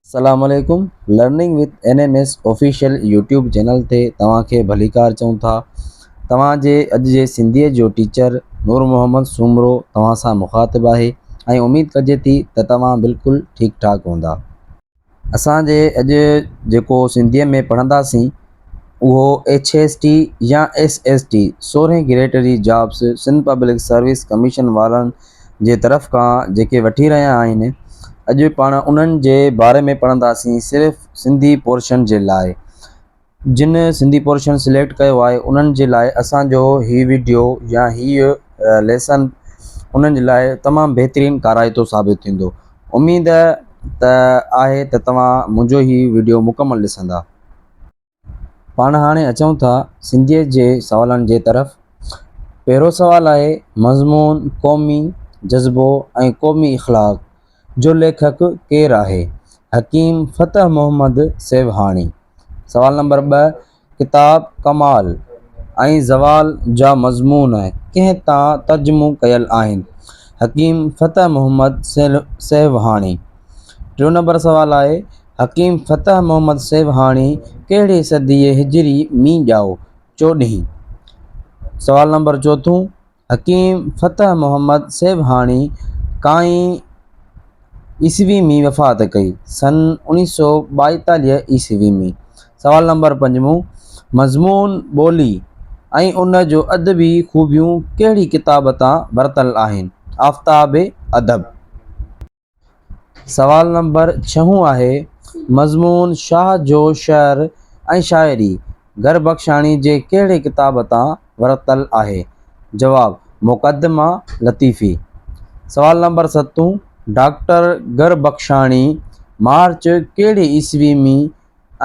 السلام عليڪم learning with N M S official YouTube channel تي توهان کي ڀليڪار چئون ٿا توهان جي اڄ جي سنڌيء جو ٽيچر نور محمد سومرو توهان سان مخاطب آهي ۽ اميد ڪجي ٿي ته توهان بلڪل ٺيڪ ٺاڪ هوندا اسان جي اڄ جيڪو سنڌيء ۾ پڙهنداسين اهو ايڇ ايس ٽي يا ايس ايس ٽي سورهين گريڊ جي jobs Sindh public service commission وارن جي طرف کان جيڪي وٺي رهيا آهن اڄ پاڻ انهن جي باري ۾ پڙهنداسين صرف سنڌي پورشن جي لاء جن سنڌي پورشن سليڪٽ ڪيو آهي انهن جي لاء اسان جو هي وڊيو يا هي ليسن انهن جي لاء تمام بهترين ڪارائتو ثابت ٿيندو اميد ته آهي ته توهان منهنجو هي وڊيو مڪمل ڏسندا. پاڻ هاڻي اچون ٿا سنڌيت جي سوالن جي طرف پهريون سوال آهي مضمون قومي جذبو ۽ قومي اخلاق جو ليکڪ ڪير آهي؟ حڪيم فتح محمد سيوهاڻي. سوال نمبر ٻه، ڪتاب ڪمال ۽ زوال جا مضمون ڪنهن تان ترجمو ڪيل آهن؟ حڪيم فتح محمد سيوهاڻي. ٽيون نمبر سوال آهي، حڪيم فتح محمد سيوهاڻي ڪهڙي صديء هجري ۾ ڄائو؟ چوڏهين. سوال نمبر چوٿون، حڪيم فتح محمد سيوهاڻي ڪائين عيسوي ۾ وفات ڪئي، سن اوڻيهه سؤ ٻائيتاليهه عيسوي ۾. سوال نمبر پنجون، مضمون ٻولي ۽ ان جو ادبي خوبيون ڪهڙي ڪتاب تان ورتل آهن؟ آفتاب ادب. سوال نمبر ڇهون آهي مضمون شاهه جو شعر ۽ شاعري گهر بخشاڻي جي ڪهڙي ڪتاب تان ورتل آهي؟ جواب، مقدمه لطيفي. سوال نمبر ستون ڊاڪٽر گهر بخشاڻي مارچ ڪهڙي عيسوي ۾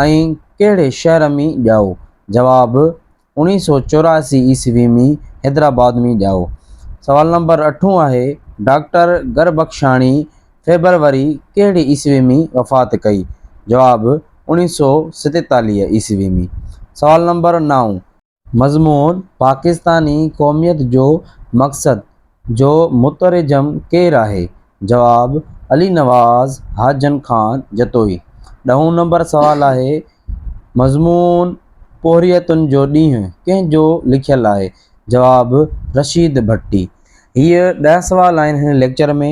۽ ڪهڙي شهر ۾ ڄائو؟ جواب، اوڻيهه سئو چوراسي عيسوي ۾ حيدرآباد ۾ ڄائو. سوال نمبر اٺون آهي، ڊاڪٽر گربخشاڻي فيبروري ڪهڙي عيسوي ۾ وفات ڪئي؟ جواب، اوڻيهه سئو ستيتاليهه عيسوي ۾. سوال نمبر نائون. مضمون، پاڪستاني قوميت جو مقصد جو مترجم ڪير آهي؟ جواب، علي نواز حاجن خان جتوئي. ڏهون نمبر سوال آهي مضمون پورهيتن جو ڏينهن ڪنهن جو لکيل آهي؟ جواب، رشيد ڀٽي. هيء ڏهه سوال آهن هن ليڪچر ۾.